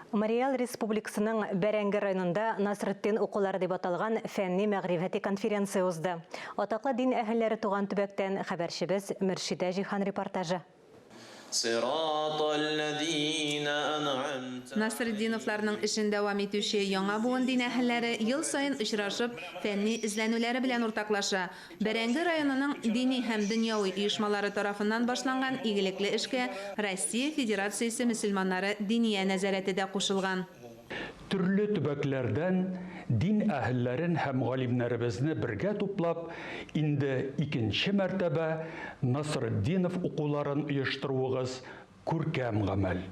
Мариэл Республикасының Бәрәңге районында Насретдин укулары дип аталган фәнни-мәгърифәти конференция узды. Атаклы дин әһелләре туган төбәктән хәбәрчебез Мөршидә Җиһан репортажы. Насретдиновларның эшен дәвам итүче яңа буын дин әһелләре ел саен очрашып, фәнни эзләнүләре белән уртаклаша. Бәрәңге районының дини һәм дөньяви оешмалары тарафыннан башланган игелекле эшкә Россия Федерациясе мөселманнары Диния нәзарәте дә кушылган. Төрле төбәкләрдән дин әһелләрен һәм галимнәребезне бергә туплап, инде икенче мәртәбә Насретдинов укуларын оештыруыгыз Күркәм гамәл.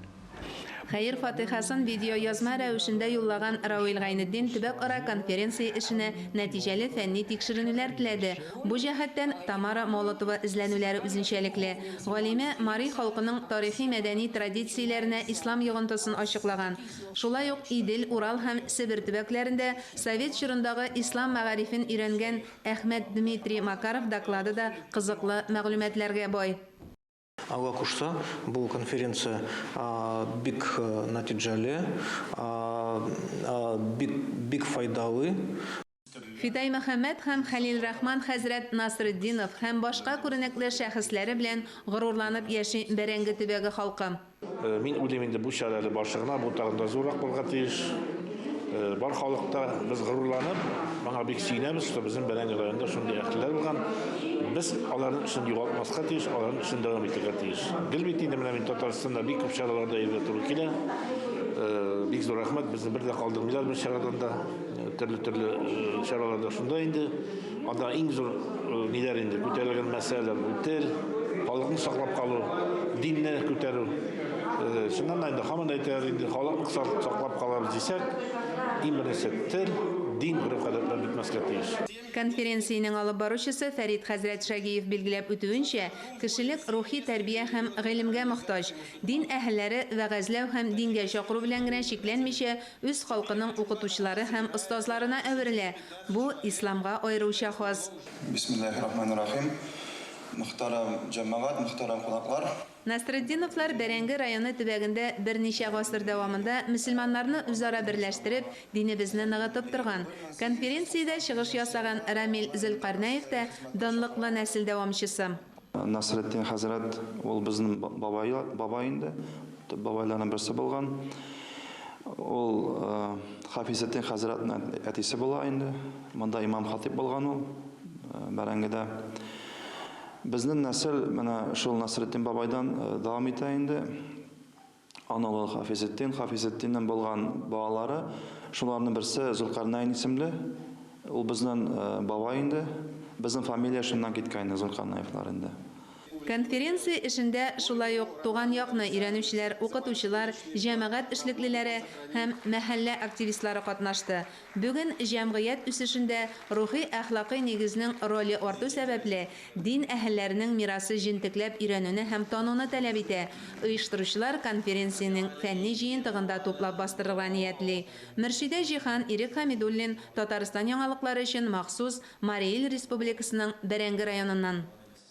Хәер-фатыйхасын видеоязма рәвешендә юллаган Равил Гайнетдин төбәкара конференция эшенә нәтиҗәле фәнни тикшеренүләр теләде. Бу җәһәттән Тамара Молотова эзләнүләре үзенчәлекле. Галимә мари халкының тарихи-мәдәни традицияләренә ислам йогынтысын ачыклаган. Шулай ук Идел, Урал һәм Себер төбәкләрендә совет чорындагы ислам мәгарифен өйрәнгән Әхмәт Дмитрий Макаров доклады да кызыклы мәгълүматларга бай. Алла кушса, бу конференция бик нәтиҗәле, бик файдалы. Фидай Мөхәммәт һәм Хәлил Рахман хәзрәт Насретдинов һәм башка күренекле шәхесләре белән горурланып яши Бәрәңге төбәге халкы. Э, мин уйлыйм инде бу чара әле башы гына, бу тагын да зуррак булырга тиеш. Э, бар халыкта без горурланып, моңа бик сөенәбез, что безнең Бәрәңге районында шундый әһелләр булган. Без аларның эшен югалтмаска тиеш, аларның эшен дәвам итәргә тиеш. Гел бит инде менә мин Татарстанда бик күп чараларда йөрергә туры килә. Э, бик зур рәхмәт, безне бер дә калдырмыйлар бер чарадан да, төрле-төрле чараларда шунда инде. Анда иң зур э, ниләр инде күтәрелгән мәсьәләләр бу тел, халыкны саклап калу, динне күтәрү. Э, Чыннан да инде һаман әйтәләр инде халыкны сак- саклап калабыз дисәк, иң беренче тел, дин, гореф-гадәтләр бетмәскә тиеш. Конференциянең алып баручысы Фәрит хәзрәт Шәгиев билгеләп үтүенчә, кешелек рухи тәрбия һәм гыйлемгә мохтаҗ. Дин әһелләре вәгазьләү һәм дингә чакыру белән генә чикләнмичә, үз халкының укытучылары һәм остазларына әверелә, Бу, Исламга аеруча хас. Бисмиллахи рахмани рахим. Мөхтәрәм җәмәгать, мөхтәрәм кунаклар! Насретдиновлар Бәрәңге районы төбәгендә берничә гасыр дәвамында мөселманнарны үзара берләштереп, динебезне ныгытып торган. Конференциядә чыгыш ясаган Рамил Зөлкарнәев тә, данлыклы нәсел дәвамчысы. Насретдин хәзрәт ул безнең бабай, бабай инде, төп бабайларның берсе булган. Ул Хафизетдин хәзрәтнең әтисе була инде. Монда имам-хатип булган ул бәрәңгедә. Безнең нәсел менә шул Насретдин бабайдан дәвам итә инде. Аналы Хафизетдин, Хафизетдиннен булган балалары, шуларның берсе Зулкарнәйн исемле. Ул безнен бабай инде. Безнен фамилия шуннан киткән инде, Зулкарнәевлар инде. Конференция эшендә шулай ук туган якны өйрәнүчеләр, укытучылар, җәмәгать эшлеклеләре һәм мәхәллә активистлары катнашты. Бүген җәмгыять үсешендә рухи-әхлакый нигезнең роле арту сәбәпле, дин әһелләренең мирасы җентекләп өйрәнүне һәм тануны таләп итә. Оештыручылар конференциянең фәнни җыентыгын да туплап бастырырга ниятли. Мөршидә Җиһан, Ирек Хәмидуллин, Татарстан яңалыклары өчен махсус, Мари Ил Республикасының Бәрәңге районыннан.